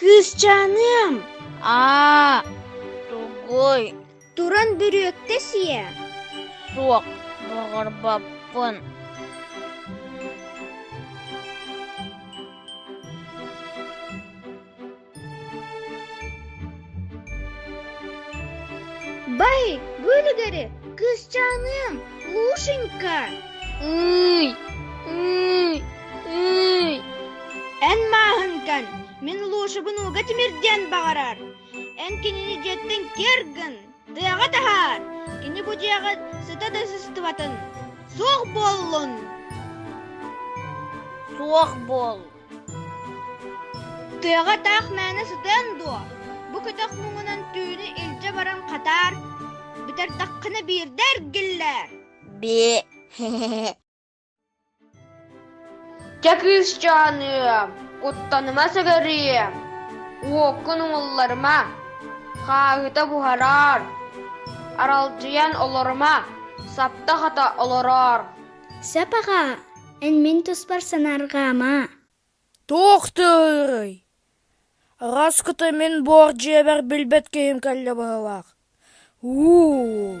Кыысчааным! Аа, тугуй? Туран бүрүөктэ сиэ. Суох, баҕарбаппын. Бай, бөлүгэрэ, кыысчааныам, Лушенька! Ый, ый, ый. Эн мааһынкан, мин Лушабын ууга тимирдиэн баҕарар. Эн кинини дьиэттэн киэргин, тыаҕа таһаар, кини бу дьиэҕит сыта да сыстыбатын. Суох буоллун! Суох буол. Тыаҕа таах мээнэ сытыаҥ дуо? Бу көтөх муҥунан түүнү илдьэ баран хатаар, бүтэрдэххинэ биирдэ эргиллээр Бии Чэ кыысчааныам, куттаныма сыгырыам, уоккун уҥулларыма, хааһыта буһараар, аралдьыйан олорума, сапта-хата олороор Сап аҕаа, Эн мин туспар санаарҕаама. Туох тыый? Раскыта мин буор дьиэбэр билбэт киһим кэллэ быһыылаах. уу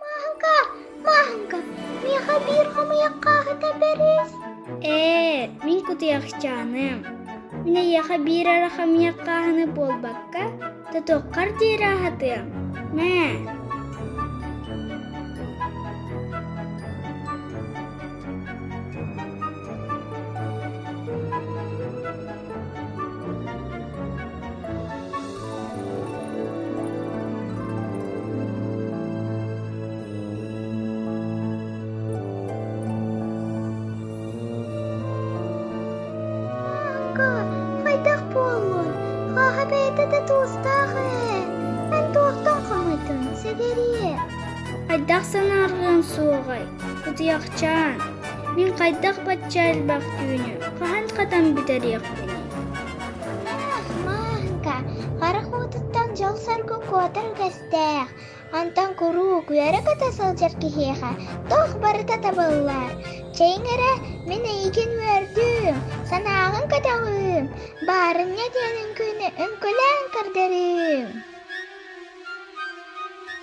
Мааһыҥка, Мааһыҥка, миэхэ биир хомуйах хааһыта бэрис. Ээ, мин кутуйахчааным. Мин эйиэхэ биир эрэ хомуйах хааһыны буолбакка, тотуоххар диэри аһатыам. Мэ. хайдах буоллун хааһа бэйэтэ да туустаах ээ эн туохтан хомуйдуҥ сэгэриэ хайдах санаарҕыаҥ суоҕай Кутуйахчаан, мин хайдах бачча элбэх түүнү хаһан хатан бүтэриэхпиний? Ах, Мааһыҥка, харах уутуттан дьол-соргу куотар үгэстээх. Онтон куруук үөрэ-көтө сылдьар киһиэхэ туох барыта табыллар. Чэйиҥ эрэ, мин эйигин үөрдүүм, санааҕын көтөҕүүм, баарынньа диэн үҥкүүнү үҥкүлээн көрдөрүүм.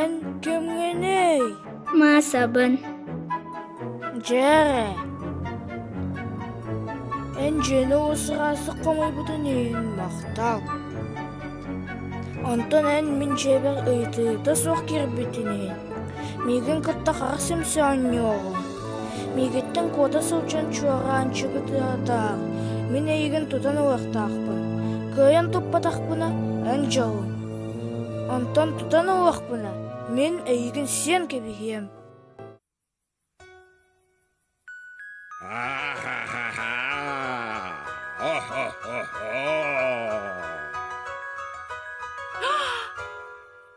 Эн кимҥиний? Маасабын. Дьэ, эн дьиэни усараасык хомуйбутун иһин махтал. Онтон эн мин дьиэбэр ыйытыыта суох киирбитин иһин миигин кытта хара симсэ оонньуоҕуҥ. Миигиттэн куота сылдьан чуораанчыгы тыаһатаҕыҥ, мин эйигин тутан ылыахтаахпын, кыайан туппатахпына эн дьолуҥ. Онтон тутан ылыахпына мин эйигин сиэн кэбиһиэм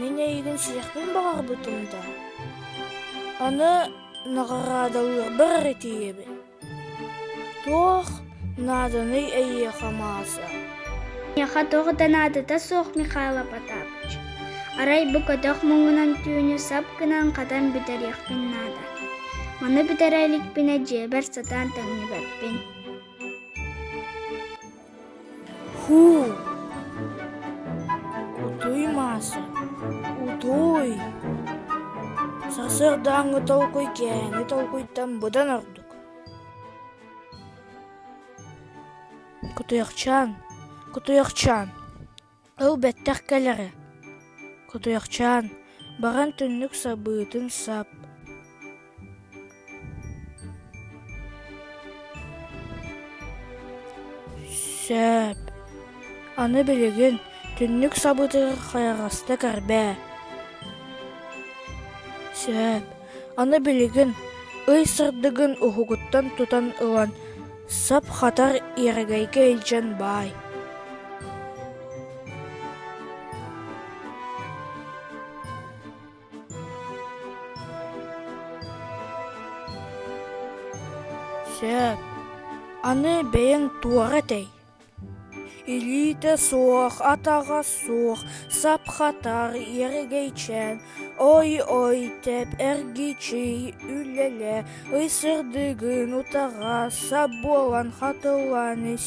Мин эйигин сиэхпин баҕарбытым да аны наҕараадалыырбар эрэ тиийэбин туох нааданый эйиэхэ Мааса миэхэ туох да наадата суох Михаил Потапыч арай бу көтөх муҥунан түүнү сап гынан хатан бүтэриэхпин наада маны бүтэрэ иликпинэ дьиэбэр сатаан тэҥнибэппин Һуу, кутуй Маша, утуй! Сарсыардааҥҥы толкуй кээһэни толкуйтан быдан ордук. Кутуйахчаан, кутуйахчаан Ол бэттэх кэлэрэ, кутуйахчаан, баран түннүк сабыытын сап Сөп. Аны билигин түннүк сабыытыгар хайаҕастык эрбээ. Сөп. Аны билигин, ый сырдыгын уһугуттан тутан ылан, сап-хатар иэрэгэйгэ илдьэн баай Сөп. Аны бэйэҥ туора этэй? Илиитэ суох, атаҕа суох, сап-хатар, эргэйчээн, ой-ой тэп эргичий үлэлэ, ысырдыгын утаҕа сап буолан хатылан ис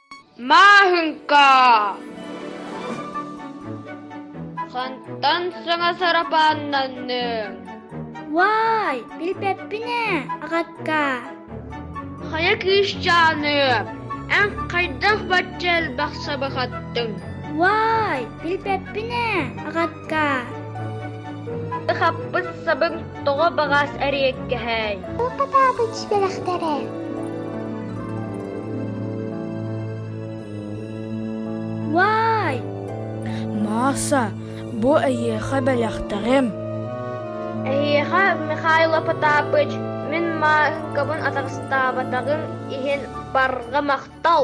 Мааһыҥка! Хантан саҥа сарапааннанныҥ? Уаай, билбэппин ээ, агакка. Хайа кыысчааныап, эн хайдах бачча элбэх сабахаттыҥ? Уаай, билбэппин ээ, агакка. Каа, сахаппыт сабын тоҕо баҕас эриэккэһэй? Утатаабыт бэлэхтэрэ. Вай! Мааса, бу эйиэхэ бэлэхтэрим. Эһиэхэ Михайло Потапыч, мин Маахыкабын атаҕастаабатаҕым иһин барҕа махтал!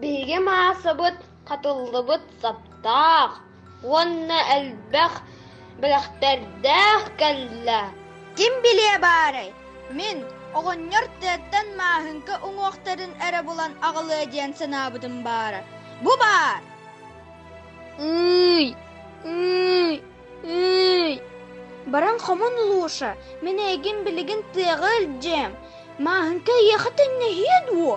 Биһиги маасабыт хатыллыбыт саптаах уонна элбэх бэлэхтэрдээх кэллэ Ким билиэ баарай, мин оҕонньор тыаттан мааһыҥка уҥуохтарын эрэ булан аҕалыа диэн санаабытым баара Бу баар Ый, ый, ый Баран хомун Луша, мин эйигин билигин тыаҕа илдьиэм Мааһыҥка эйиэхэ төннүһүө дуо?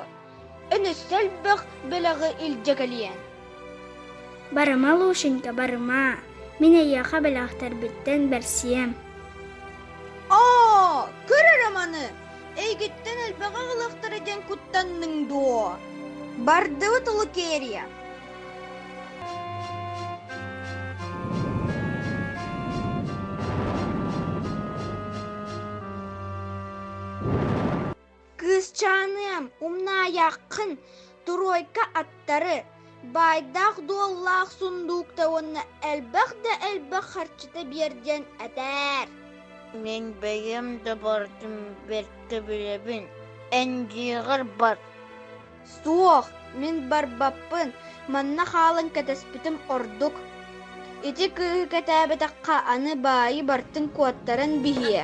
Өлө сөлбөх бөлөҕү илдьэ кэлиэн. Барыма, Лушенька, барыма. Мин эйиэхэ бэлэхтэрбиттэн бэрсиэм. Оо, көр эрэ маны, эйгиттэн элбэҕи ылыахтара диэн куттанныҥ дуо? Бардыбыт Лукерья. Кыысчааныам, умнаайаххын, туруойка аттары, баайдаах-дуоллаах сундуукта уонна элбэх да элбэх харчыта биэр диэн этээр. Мин бэйэм да бардым бэркэ билэбин, эндьиигэр бар Суох, мин барбаппын, манна хаалан кэтэспитим ордук. Ити кыыһы кэтээбэтэххэ аны баайы бартын куоттаран биһиэ.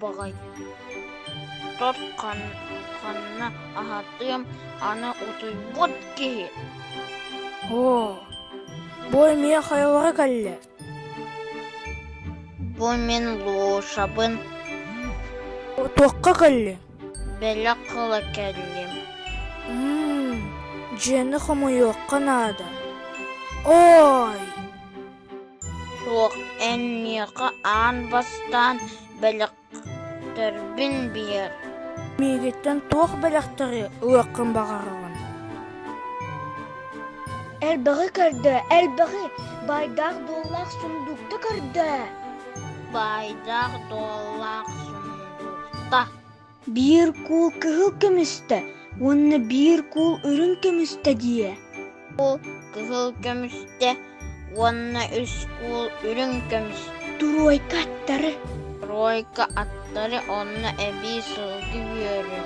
Боҕойдор ханна аһатыам аны утуйбут киһи бу эмиэ хайалара кэллэ бу мин Лушабын туохха кэллэ бэлэх ыла кэллим дьиэни хомуйуохха наада ой Суох, эн миэхэ аан бастаан бэлэхтэрбин биэр. Миигиттэн туох бэлэхтэри ылыаххын баҕараҕын? Элбэҕи көрдө, элбэҕи. Баайдаах дуоллаах сундуукта көрдө. Баайдаах дуоллаах сундуукта. Биир куул кыһыл көмүстэ уонна биир куул үрүҥ көмүстэ диэ. Куул кыһыл көмүстэ уонна үс куул үрүҥ көмүстэ. Туруойка аттары. Туруойка аттары онно эбии сылгы үөрэ.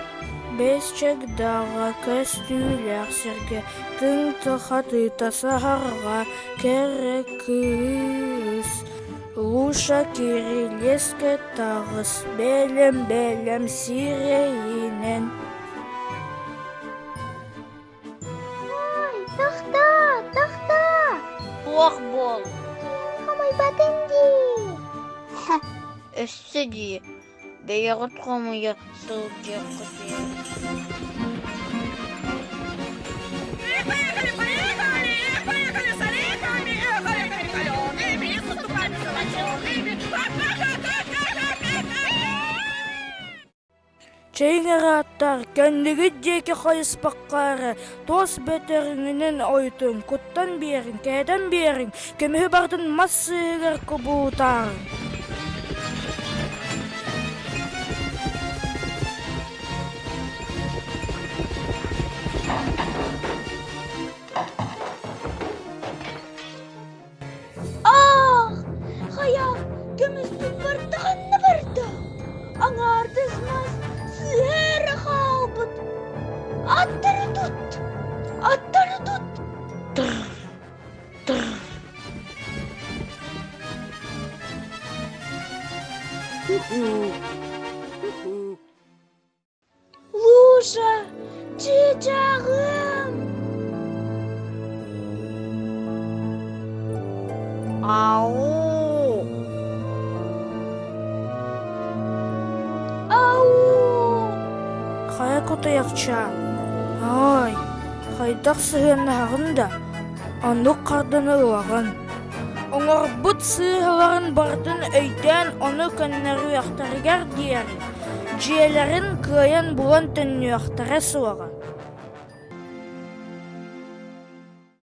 Бэсчэк даҕа көстүүлээх сиргэ тыҥ хатыыта саһарҕа кэрэ кыыс. Луша кирилиэскэ таҕыс бэлэм-бэлэм сирэйинэн Ой, тахта, тахта! Туох буол? Хамайбатын дии. Өссө дии. Бэйэҕит хомуйа сылдьыаххыт иһин Чиҥ арааттар кэннигит диэки хайыспакка эрэ Тос бөтөҕүҥүнэн ойутуҥ, куттан биэриҥ, кээтэн биэриҥ, көмүһү бартын мас сыыһыгар кубуутааҥ. аах хайа көмүсүн барда ханна барда аҥаардас мас сыыһа эрэ хаалбыт аттары тут аттары тут тыр тыр Лужа, чыычааҕым! Ау! Ау! Хайа кутуйахча, ай, хайдах сыһыаннаһаҕын да, оннук харданы ылаҕын. Оҥорбут сыыһаларын барытын өйдөөн ону көннөрүөхтэригэр диэри Дьиэлэрин кыайан булан төннүөхтэрэ суоҕа